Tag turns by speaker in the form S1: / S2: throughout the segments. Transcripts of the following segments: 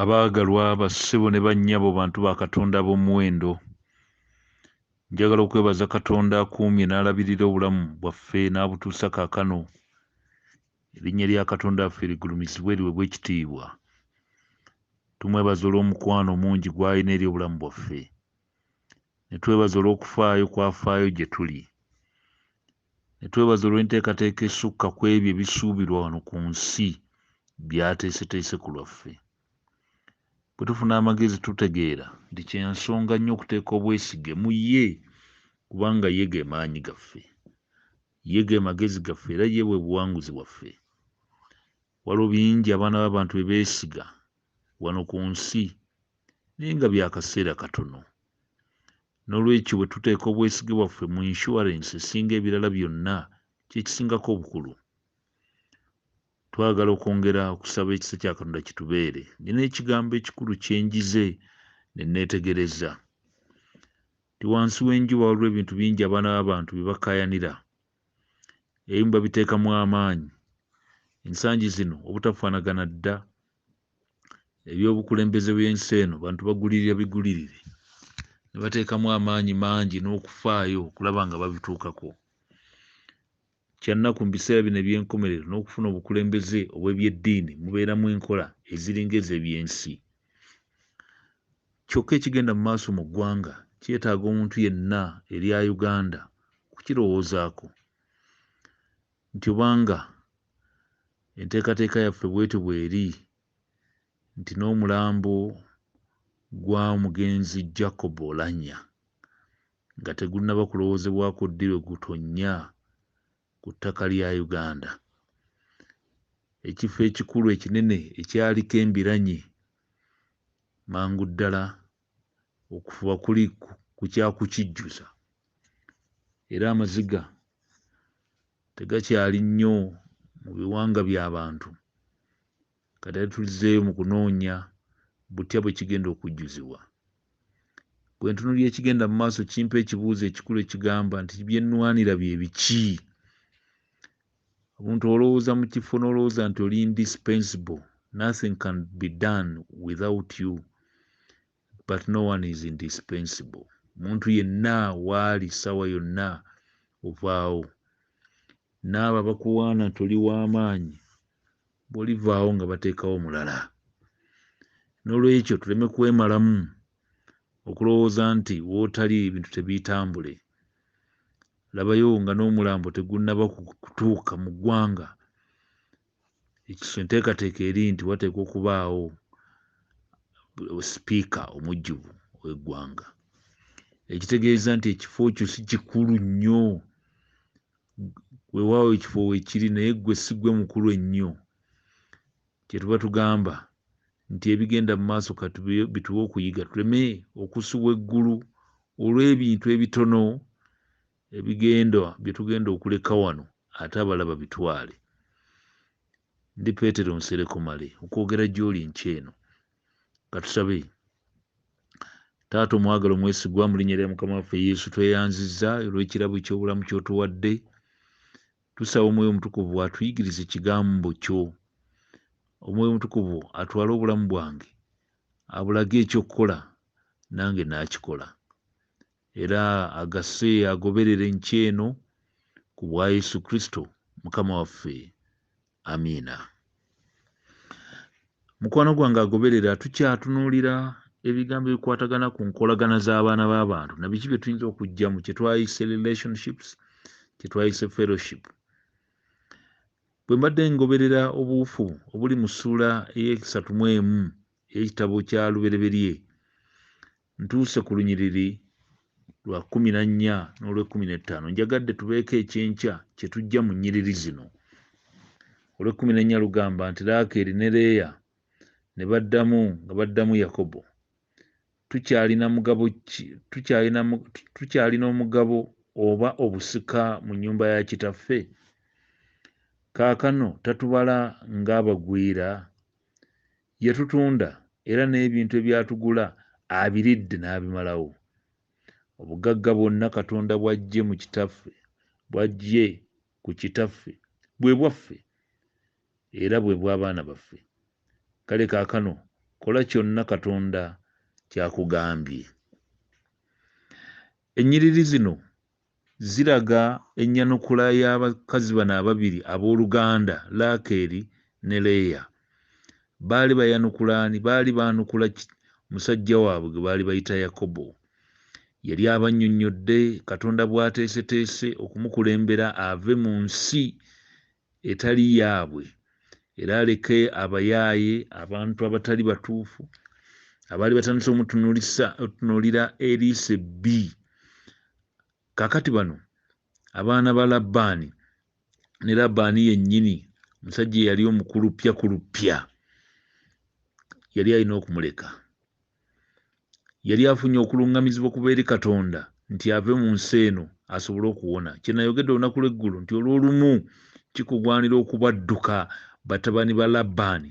S1: Abaagalwa bassebo ne bannyabo bantu ba Katonda ab'omuwendo, njagala okwebaza Katonda akuumye n'alabirira obulamu bwaffe n'abutuusa kaakano. Erinnya lya Katonda waffe ligulumizibwe liweebwe ekitiibwa. Tumwebaza olw'omukwano omungi gw'alina eri obulamu bwaffe. ne twebaza olw'okufaayo kw'afaayo gye tuli, ne twebaza olw'enteekateeka esukka ku ebyo ebisuubirwa wano ku nsi by'ateeseteese ku lwaffe. Bwe tufuna amagezi tutegeera nti kya nsonga nnyo okuteeka obwesige mu ye kubanga ye ge maanyi gaffe, ye ge magezi gaffe era ye bwe buwanguzi bwaffe. Waliwo bingi abaana b'abantu bye beesiga wano ku nsi, naye nga bya kaseera katono. N'olwekyo, bwe tuteeka obwesige bwaffe mu inshuwarensi esinga ebirala byonna, kye kisingako obukulu. Twagala okwongera okusaba ekisa kya Katonda kitubeere. Nnina ekigambo ekikulu kye njize ne nneetegereza. Ndi wansi w'enjuba waliwo ebintu bingi abaana b'abantu bye bakaayanira. Ebimu babiteekamu amaanyi ensangi zino obutafaanagana dda. Ebyobukulembeze by'ensi eno bantu bagulirira bigulirire ne bateekamu amaanyi mangi n'okufaayo okulaba nga babituukako. Kya nnaku mu biseera bino eby'enkomerero n'okufuna obukulembeze obw'eby'eddiini mubeeramu enkola eziringa ez'eby'ensi. Kyokka ekigenda mu maaso mu ggwanga kyetaaga omuntu yenna erya Uganda okukirowoozaako nti obanga enteekateeka yaffe bwetyo bweri nti n'omulambo gwa omugenzi Jacob Olanya nga tegunnaba kulowoozebwako ddi lwe gutonnya ku ttaka lya Uganda, ekifo ekikulu ekinene ekyaliko embiranye mangu ddala okufuba kuli ku kya kukijjuza era amaziga tegakyali nnyo mu biwanga bya bantu kati ate tuzzeeyo mu kunoonya butya bwe kigenda okujjuzibwa. Bwe ntunuulira ekigenda mu maaso kimpa ekibuuzo ekikulu ekigamba nti bye nnwanira bye biki? Omuntu olowooza mu kifo n'olowooza nti oli indispensable, nothing can be done without you but no one is indispensable. Omuntu yenna waali ssaawa yonna ovaawo. N'abo abakuwaana nti oli w'amaanyi bwolivaawo nga bateekawo omulala nolwekyo tuleme kwemalamu okulowooza nti wotali ebintu tebitambule labayo nga n'omulambo tegunaba kutuuka mu ggwanga ekiso enteekateeka eri nti wateekwa okubaawo sipiika omujjuvu ow'eggwanga ekitegeeza nti ekifo kyo si kikulu nnyo wewaawo ekifo wekiri naye gwe sigwe mukulu ennyo kyetuba tugamba nti ebigenda mu maaso katubituwe okuyiga tuleme okusubwa eggulu olw'ebintu ebitono ebigenda byetugenda okuleka wano ate abalaba bitwale Ndi Petero Nsereko Male okwogera gy'oli enkya eno. Ka tusabe. Taata omwagala omwesigwa, mu linnya lya Mukama waffe Yesu tweyanzizza olw'ekirabo eky'obulamu ky'otuwadde. Tusaba Omwoyo Omutukuvu atuyigirize Ekigambo kyo. Omwoyo Omutukuvu atwale obulamu bwange abulage eky'okukola, nange naakikola. Era agase agoberere enkya eno ku bwa Yesu Kristo Mukama waffe. Amiina. Mukwano gwange agoberera, tukyatunuulira ebigambo ebikwatagana ku nkolagana z'abaana b'abantu na biki bye tuyinza okuggyamu kye twayise relationships, kye twayise fellowship. Bwe mbadde ngoberera obuwufu obuli mu ssuula ey'eksatu mu emu ey'ekitabo kya Lubereberye, Ntuuse ku lunyiriri lwa kkumi na nnya n'olw'ekkumi n'ettaano. Njagadde tubeeko eky'enkya kye tuggya mu nnyiriri zino. Olw'ekkumi n'ennya lugamba nti Laakeeri ne Leeya ne baddamu nga baddamu Yakobo. Tukyalina mugabo ki? Tukyalina, tukyalina omugabo oba obusika mu nnyumba ya kitaffe? Kaakano tatubala ng'abagwira? Yatutunda era n'ebintu ebyatugula abiridde n'abimalawo. Obugagga bwonna Katonda bw'aggye mu Kitaffe, bw'aggye ku Kitaffe, bwe bwaffe era bwe bw'abaana baffe. Kale kaakano kola kyonna Katonda ky'akugambye. Ennyiriri zino Ziraga ennyanukula y'abakazi bano ababiri ab'oluganda, Laakeeri ne Leeya. Baali bayanukula ani? Baali baanukula musajja waabwe gwe baali bayita Yakobo. Yali abannyonnyodde Katonda bw'ateeseteese okumukulembera ave mu nsi etali yaabwe era aleke abayaaye abantu abatali batuufu abaali batandise omutunuulira eriiso ebbi kakati bano abaana ba labbaani ne labbaani yennyini omusajja eyali omukulu ppya ku luppya yali alina okumuleka Yali afunye okulungamizibwa okuva eri Katonda nti ave mu nsi eno asobole okuwona. Kye nayogedde olunaku lw'eggulo nti olw'olumu kikugwanira okubadduka batabani ba Labbaani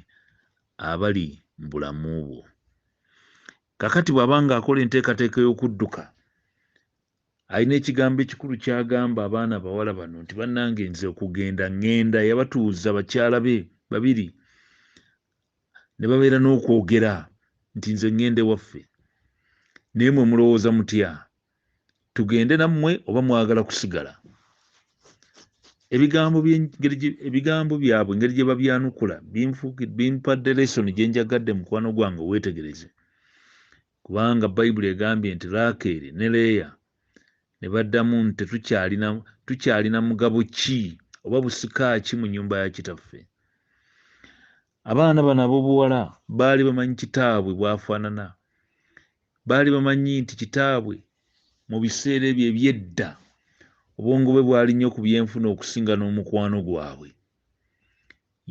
S1: abali mu bulamu bwo. Kakati bw'aba nga akola enteekateeka ey'okudduka, alina ekigambo ekikulu ky'agamba abaana abawala bano nti bannange nze okugenda ngenda. Yabatuuza bakyala be babiri ne babeera n'okwogera nti nze ŋŋenda ewaffe naye mwe mulowooza mutya tugende nammwe oba mwagala kusigala ebigambo ebigambo byabwe engeri gye babyanukula bimpadde lesoni gye njagadde mukwano gwange weetegereze kubanga Bayibuli egambye nti Laakeeri ne Leeya ne baddamu nti, Tetukyalina, tukyalina mugabo ki oba busika ki mu nnyumba ya kitaffe? Abaana bano ab'obuwala baali bamanyi kitaabwe bw'afaanana. Baali bamanyi nti kitaabwe mu biseera ebyo eby'edda obwongo bwe bwali nnyo ku byenfuna okusinga n'omukwano gwabwe.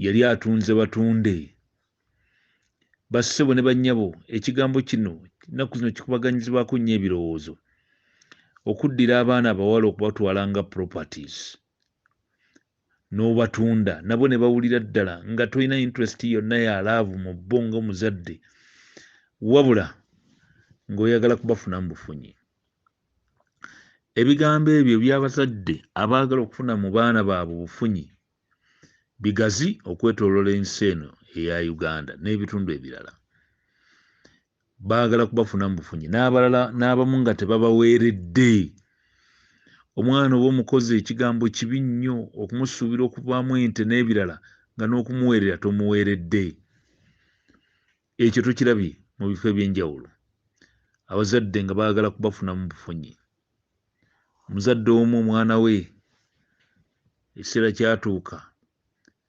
S1: Yali atunze batunde Bassebo ne bannyabo, ekigambo kino ennaku zino kikubaganyizibwako nnyo ebirowoozo. Okuddira abaana abawala okubatwala nga properties n'obatunda nabo ne bawulira ddala nga tolina interest yonna ya laavu mu bo ng'omuzadde wabula ng'oyagala kubafuna mu bufunyi. Ebigambo ebyo eby'abazadde abaagala okufuna mu baana baabwe obufunyi bigazi okwetolola ensi eno eya Uganda n'ebitundu ebirala. Baagala kubafuna mu bufunyi n'abalala n'abamu nga tebabaweeredde. Omwana oba omukozi ekigambo kibi nnyo okumusuubira okuvaamu ente n'ebirala nga n'okumuweerera tomuweeredde. Ekyo tukirabye mu bifo eby'enjawulo, abazadde nga baagala kubafunamu bufunyi. Omuzadde omu omwana we ekiseera kyatuuka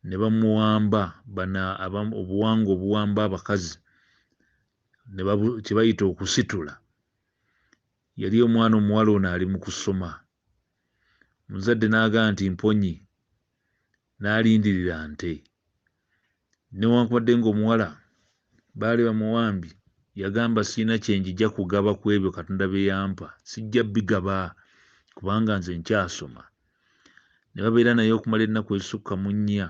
S1: ne bamuwamba bana obuwangwa obuwamba abakazi kye bayita okusitula. Yali omwana omuwala ono ali mu kusoma, omuzadde n'agamba nti mponye n'alindirira nte. Newankubadde ng'omuwala baali bamuwambye, yagamba, Sirina kye njija kugaba ku ebyo Katonda bye yampa. Sijja bigaba, kubanga nze nkyasoma. Ne babeera naye okumala ennaku ezisukka mu nnya,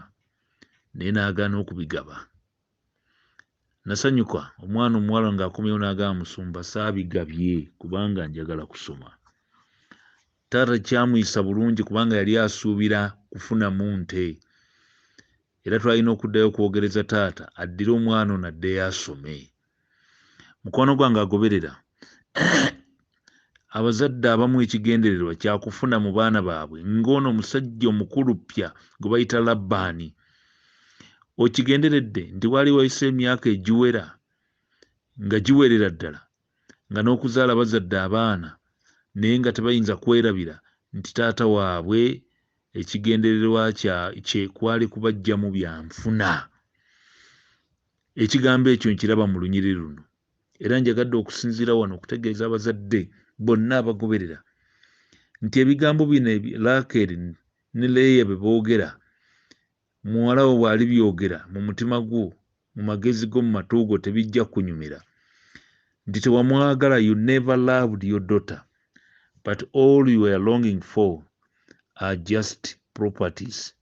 S1: naye n'agaana okubigaba. nasanyuka omwana omuwala ng'akomyewo n'agamba musumba saabigabye kubanga njagala kusoma taata kyamuyisa bulungi kubanga yali asuubira kufunamu nte era twalina okuddayo okwogereza taata addire omwana ono addeyo asome mukwano gwange agoberera abazadde abamu ekigendererwa kyakufuna mu baana baabwe ng'ono omusajja omukulu ppya gwe bayita labbaani okigenderedde nti waali wayise emyaka egiwera nga giwerera ddala nga n'okuzaala bazadde abaana naye nga tebayinza kwerabira nti taata waabwe ekigendererwa kye kwali kubajjamu byanfuna Ekigambo ekyo nkiraba mu lunyiriri luno, era njagadde okusinziira wano okutegeeza abazadde bonna abagoberera nti ebigambo bino Laakeeri ne Leeya bye boogera, muwala wo bw'alibyogera mu mutima gwo, mu magezi go, mu matu go, tebijja kukunyumira. Nti tewamwagala, you never loved your daughter, but all you were longing for are just properties.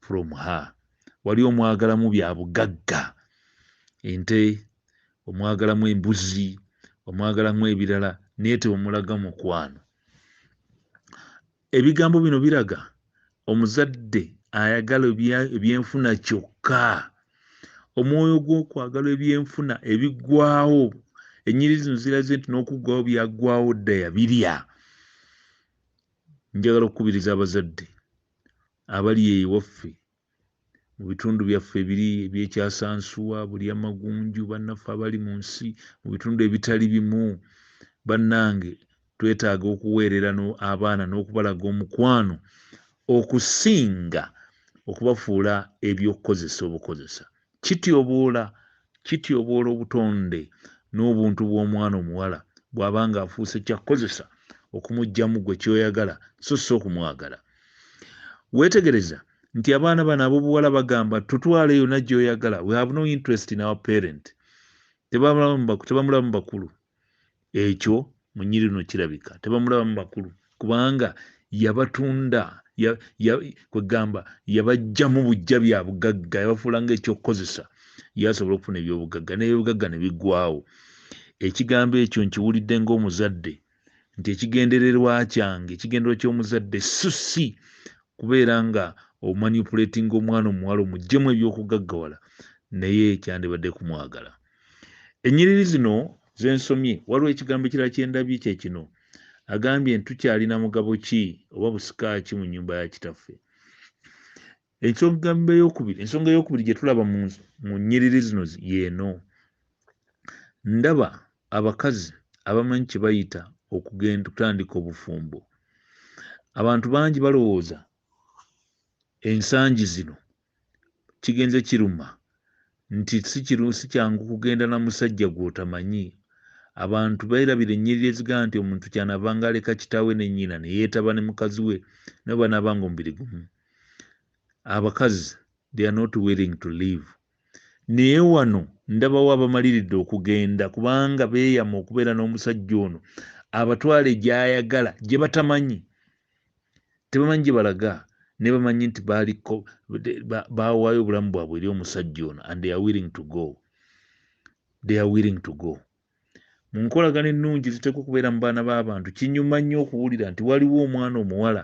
S1: from her wali omwagalamu bya bugagga ente omwagalamu embuzi omwagalamu ebirala naye teomulaga mukwano ebigambo bino biraga omuzadde ayagala ebyenfuna kyokka omwoyo gw'okwagala ebyenfuna ebiggwawo enyiri zino ziraze nti n'okuggwawo byaggwawo dda yabirya njagala okukubiriza abazadde abali eyo ewaffe mu bitundu byaffe ebiri ebyekyasansuwa buli amagunju bannaffe abali mu nsi mu bitundu ebitali bimu bannange twetaaga okuweerera abaana n'okubalaga omukwano okusinga okubafuula eby'okukozesa obukozesa Kityoboola, kityoboola obutonde n'obuntu bw'omwana omuwala bw'aba ng'afuuse kya kukozesa okumuggyamu gwe ky'oyagala so si okumwagala. Weetegereza nti abaana bano ab'obuwala bagamba tutwale yonna gy'oyagala, we have no interest in our parent. Tebamulabamu bakulu. ekyo munyiri no kirabika tebamulabamu bakulu kubanga yabatunda kwegamba yabajjamu bujja bya bugagga yabafuula nga ekyokukozesa yasobola okufuna ebyobugagga nebyobugagga ne bigwawo ekigambo ekyo nkiwulidde ngaomuzadde nti ekigendererwa kyange ekigendererwa ky'omuzadde susi kubeera nga omanipulatinga omwana omuwala omujjemu ebyokugaggawala naye kyandibadde kumwagala ennyiriri zino zensomye waliwo ekigambo ekirala kyendabye kye kino agambye nti tukyalina mugabo ki oba busika ki mu nyumba ya kitaffe ekyogamba eyokubiri ensonga eyokubiri gye tulaba mu nnyiriri zino yeeno ndaba abakazi abamanyi kye bayita okugenda okutandika obufumbo abantu bangi balowooza ensangi zino kigenze kiruma nti si kyangu kugenda na musajja gw'otamanyi. Abantu beerabira ennyiriri ezigamba nti omuntu ky'anaavanga aleka kitaawe ne nnyina ne yeetaba ne mukazi we nabo banaabanga omubiri gumu. Abakazi they are not willing to live. Naye wano ndabawo abamaliridde okugenda kubanga beeyama okubeera n'omusajja ono abatwale gy'ayagala gye batamanyi tebamanyi gye balaga naye bamanyi nti baaliko baawaayo obulamu bwabwe eri omusajja ono and they are willing to go they are willing to go mu nkolagana ennungi ziteekwa okubeera mu baana b'abantu kinyuma nnyo okuwulira nti waliwo omwana omuwala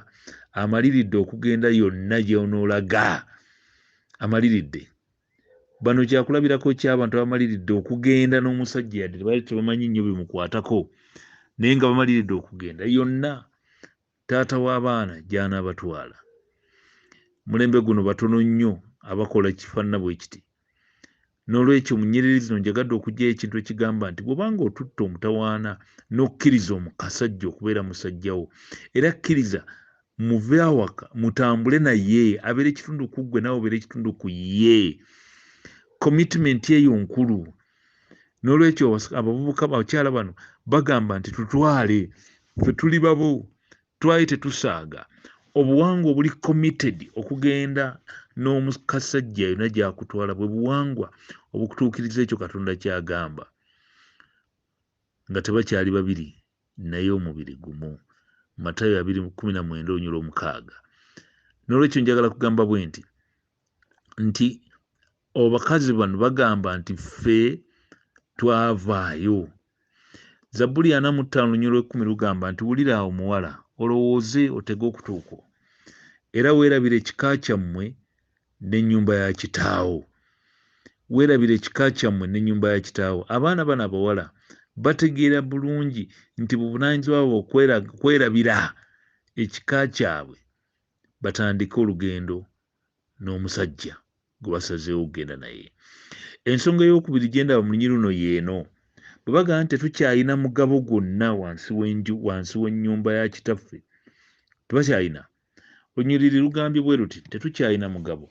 S1: amaliridde okugenda yonna gy'onoolaga amaliridde Bano kyakulabirako ky'abantu abamaliridde okugenda n'omusajja yadde tebaali tebamanyi nnyo bimukwatako naye nga bamaliridde okugenda yonna taata w'abaana gy'anaabatwala. Mulembe guno batono nnyo abakola kifaanana bwe kiti. N'olwekyo mu nnyiriri zino njagadde okuggyayo ekintu ekigamba nti bw'oba ng'otutte omutawaana n'okkiriza omu kasajja okubeera musajja wo era kkiriza muve awaka mutambule naye abeera ekitundu ku ggwe nawe obeera ekitundu ku ye commitment eyo nkulu n'olwekyo abavubuka bakyala bano bagamba nti tutwale fe tuli babo twali tetusaaga obuwangwa obuli committed okugenda n'omukassajja yona gyakutwala bwe buwangwa obukutuukiriza ekyo katonda kyagamba nga tebakyali babiri naye omubiri gumu matayo abiri kumi na mwenda olunyula omukaaga n'olwekyo njagala kugamba bwe nti nti abakazi bano bagamba nti ffe twavaayo zabbuli ana mu ttaano lunyolo ekkumi lugamba nti wulira awo muwala olowooze otege okutuukwo era weerabira ekika kyammwe n'ennyumba ya kitaawo weerabira ekika kyammwe n'ennyumba ya kitaawo abaana bano abawala bategeera bulungi nti buvunaanyizibwa bwe okwerabira ekika kyabwe batandike olugendo n'omusajja gwe basazeewo okugenda naye ensonga ey'okubiri gye ndaba mu lunyi luno yeeno bwe bagamba nti tetukyalina mugabo gwonna wansi w'enju wansi w'ennyumba ya kitaffe tebakyalina Olunyiriri lugambye bwe luti, Tetukyalina mugabo.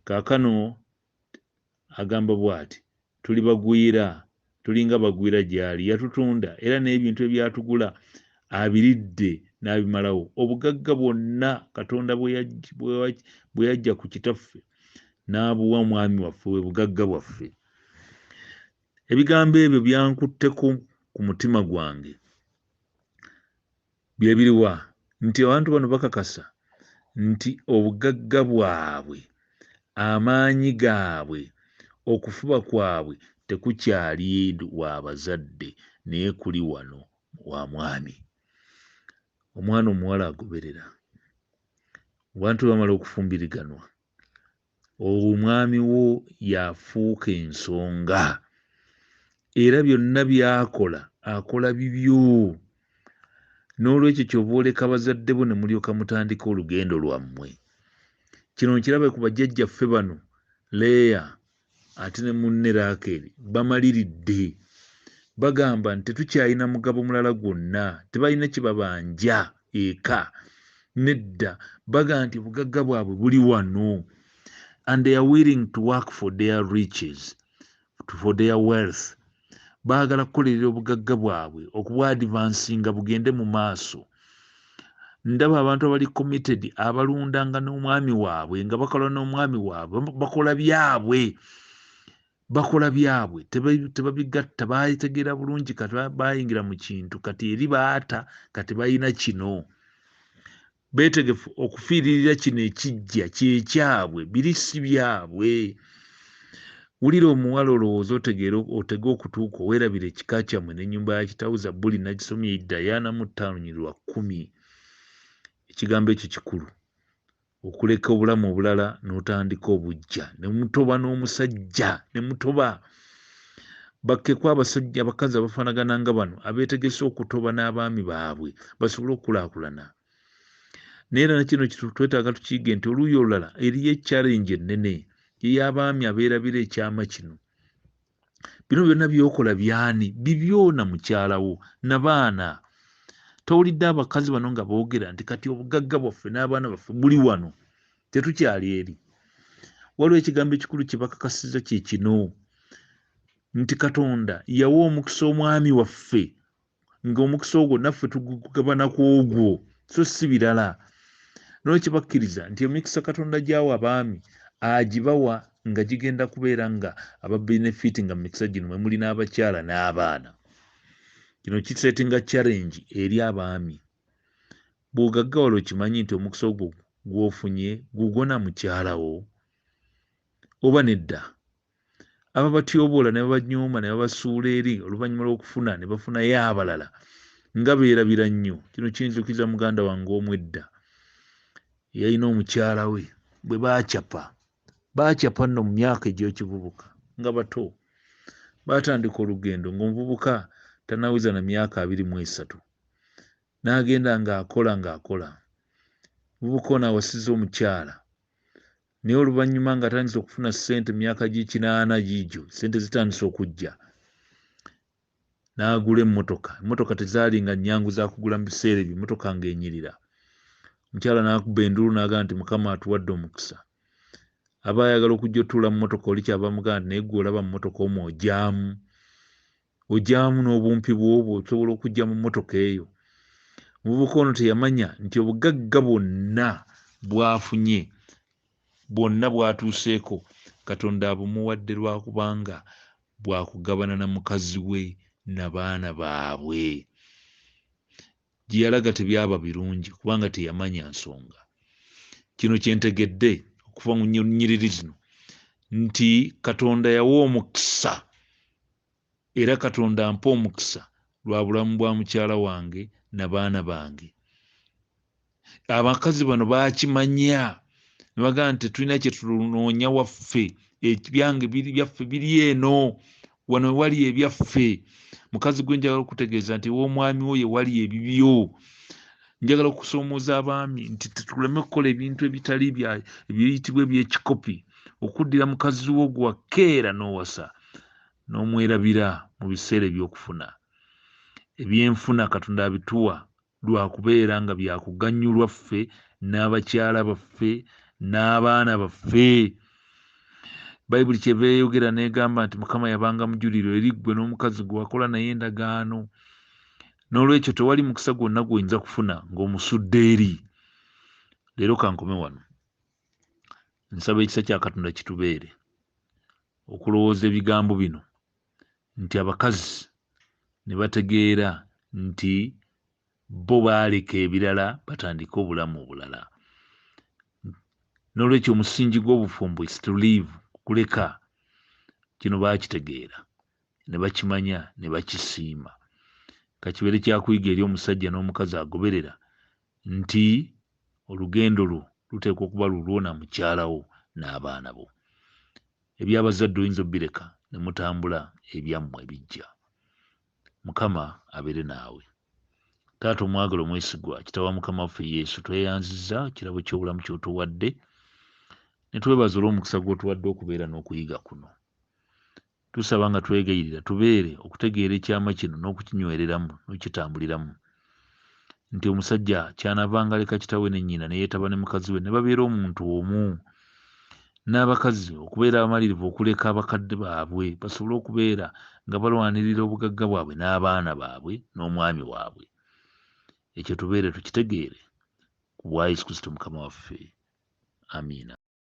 S1: Kaakano agamba bw'ati, Tuli bagwira, tulinga bagwira gy'ali. Yatutunda, era n'ebintu ebyatugula abiridde n'abimalawo. Obugagga bwonna Katonda bwe yajja ku Kitaffe n'abuwa Mwami waffe, bwe bugagga bwaffe. Ebigambo ebyo byankutteko ku mutima gwange. Byebiriwa nti abantu bano bakakasa nti obugagga bwabwe, amaanyi gaabwe, okufuba kwabwe tekukyali wa bazadde naye kuli wano wa mwami. Omwana omuwala agoberera. Abantu bwe bamala okufumbiriganwa olwo omwami wo y'afuuka ensonga era byonna by'akola akola bibyo n'olwekyo kyova oleka bazadde bo ne mulyoka mutandika olugendo lwammwe kino nkirabe ku bajjajjaffe bano leeya ate ne munne Laakeeri bamaliridde. Bagamba nti tetukyalina mugabo mulala gwonna, tebalina kye babanja eka. Nedda, bagamba nti obugagga bwabwe buli wano and they are willing to work for their riches, for their wealth. baagala kukolerera obugagga bwabwe okubwadivansinga bugende mu maaso ndaba abantu abali committed abalundanga n'omwami waabwe nga bakola n'omwami waabwe bakola byabwe bakola byabwe tebabigatta bategeera bulungi kati bayingira mu kintu kati eri baata kati balina kino beetegefu okufiiririra kino ekijja kyekyabwe biri si byabwe wulira omuwala olowooza otegeera otege okutuuka owerabira ekika kyammwe n'ennyumba ya kitawo zabbuli nagisomye idayaana mu ttaano nyi lwa kkumi ekigambo ekyo kikulu okuleka obulamu obulala n'otandika obujja ne mutoba n'omusajja ne mutoba bakkeko abasajja abakazi abafaanagana nga bano abeetegese okutoba n'abaami baabwe basobole okukulaakulana naye era nakino twetaaga tukiige nti oluuyi olulala eriyo ekyalenji ennene ey'abaami abeerabira ekyama kino bino byonna byokola byani bibyona mukyalawo nabaana towulidde abakazi bano nga boogera nti kati obugagga bwaffe n'abaana baffe buli wano tetukyali eri waliwo ekigambo ekikulu kyebakakasiza kyekino nti katonda yawa omukisa omwami waffe ngaomukisa ogwo naffe tugugabana ku ogwo so si birala noo kibakkiriza nti emikisa katonda gyawa abaami agibawa nga gigenda kubeera nga ababenefiti nga mumikisa gino mwemuli n'abakyala n'abaana kino kisetinga challenge eri abaami bw'ogaggawala okimanyi nti omukisa ogwo gw'ofunye gugwo na mukyala wo oba nedda ababatyoboola ne babanyooma ne babasuula eri oluvannyuma lw'okufuna ne bafunayo abalala nga beerabira nnyo kino kinzukiza muganda wange omu edda eyalina omukyala we bwe baacapa baacapa nno mu myaka egy'ekivubuka nga bato baatandika olugendo ng'omuvubuka tanaweza na myaka abiri mu esatu n'agenda ng'akola ng'akola mubuka ono awasiza omukyala naye oluvannyuma ng'atandise okufuna ssente mu myaka gy'ekinaana giigyo ssente zitandise okujja n'agula emmotoka emmotoka tezaali nga nnyangu zakugula mu biseera ebyo emmotoka ng'enyirira omukyala n'akuba enduulu n'agamba nti mukama atuwadde omukisa aba ayagala okujja otuula mu motoka oli kyava mugamba nti naye gwe olaba mu motoka omwo ogyamu ogyamu n'obumpi bwobwo osobola okujja mu mmotoka eyo omuvubuka ono teyamanya nti obugagga bwonna bwafunye bwonna bwatuuseeko katonda abumuwadde lwakubanga bwakugabana na mukazi we na baana baabwe gye yalaga tebyaba birungi kubanga teyamanya nsonga. Kino kye ntegedde okuva mu nnyiriri zino nti Katonda yawa omukisa era Katonda ampa omukisa lwa bulamu bwa mukyala wange na baana bange. Abakazi bano baakimanya ne bagamba nti tetulina kye tunoonya waffe, ebyange biri byaffe biri eno wano wewali ebyaffe mukazi gwe njagala okutegeeza nti ew'omwami wo yewali ebibyo njagala okusoomoza abaami nti tetuleme kukola ebintu ebitali ebiyitibwa ebyekikopi okuddira mukazi wo gwakeera n'owasa n'omwerabira mu biseera ebyokufuna ebyenfuna katonda abituwa lwa kubeera nga bya kuganyulwa ffe n'abakyala baffe n'abaana baffe bayibuli kyeva eyogera n'egamba nti mukama yabanga mujuliro eri ggwe n'omukazi gwe wakola naye endagaano n'olwekyo tewali mukisa gwonna gwoyinza kufuna ng'omusudde eri leero kankome wano nsaba ekisa kya katonda kitubeere okulowooza ebigambo bino nti abakazi ne bategeera nti bo baaleka ebirala batandike obulamu obulala. N'olwekyo omusingi gw'obufumbo is to live, kuleka. Kino baakitegeera ne bakimanya ne bakisiima. Ka kibeere kyakuyiga eri omusajja n'omukazi agoberera nti olugendo lwo luteekwa okuba lulwo na mukyala wo n'abaana bo. Eby'abazadde oyinza obireka ne mutambula ebyammwe bijja. Mukama abeere naawe. Taata omwagala omwesigwa, Kitaawe wa Mukama waffe Yesu, tweyanziza kirabo ky'obulamu ky'otuwadde ne twebaza olw'omukisa gw'otuwadde okubeera n'okuyiga kuno. Tusaba nga twegayirira tubeere okutegeera ekyama kino n'okukinywereramu n'okukitambuliramu. nti omusajja kyanavanga aleka kitawe ne nnyina neyetaba ne mukazi we nebabeera omuntu omu n'abakazi okubeera abamalirivu okuleka abakadde baabwe basobole okubeera nga balwanirira obugagga bwabwe n'abaana baabwe n'omwami waabwe ekyo tubeere tukitegeere ku bwa yesu kristo mukama waffe amiina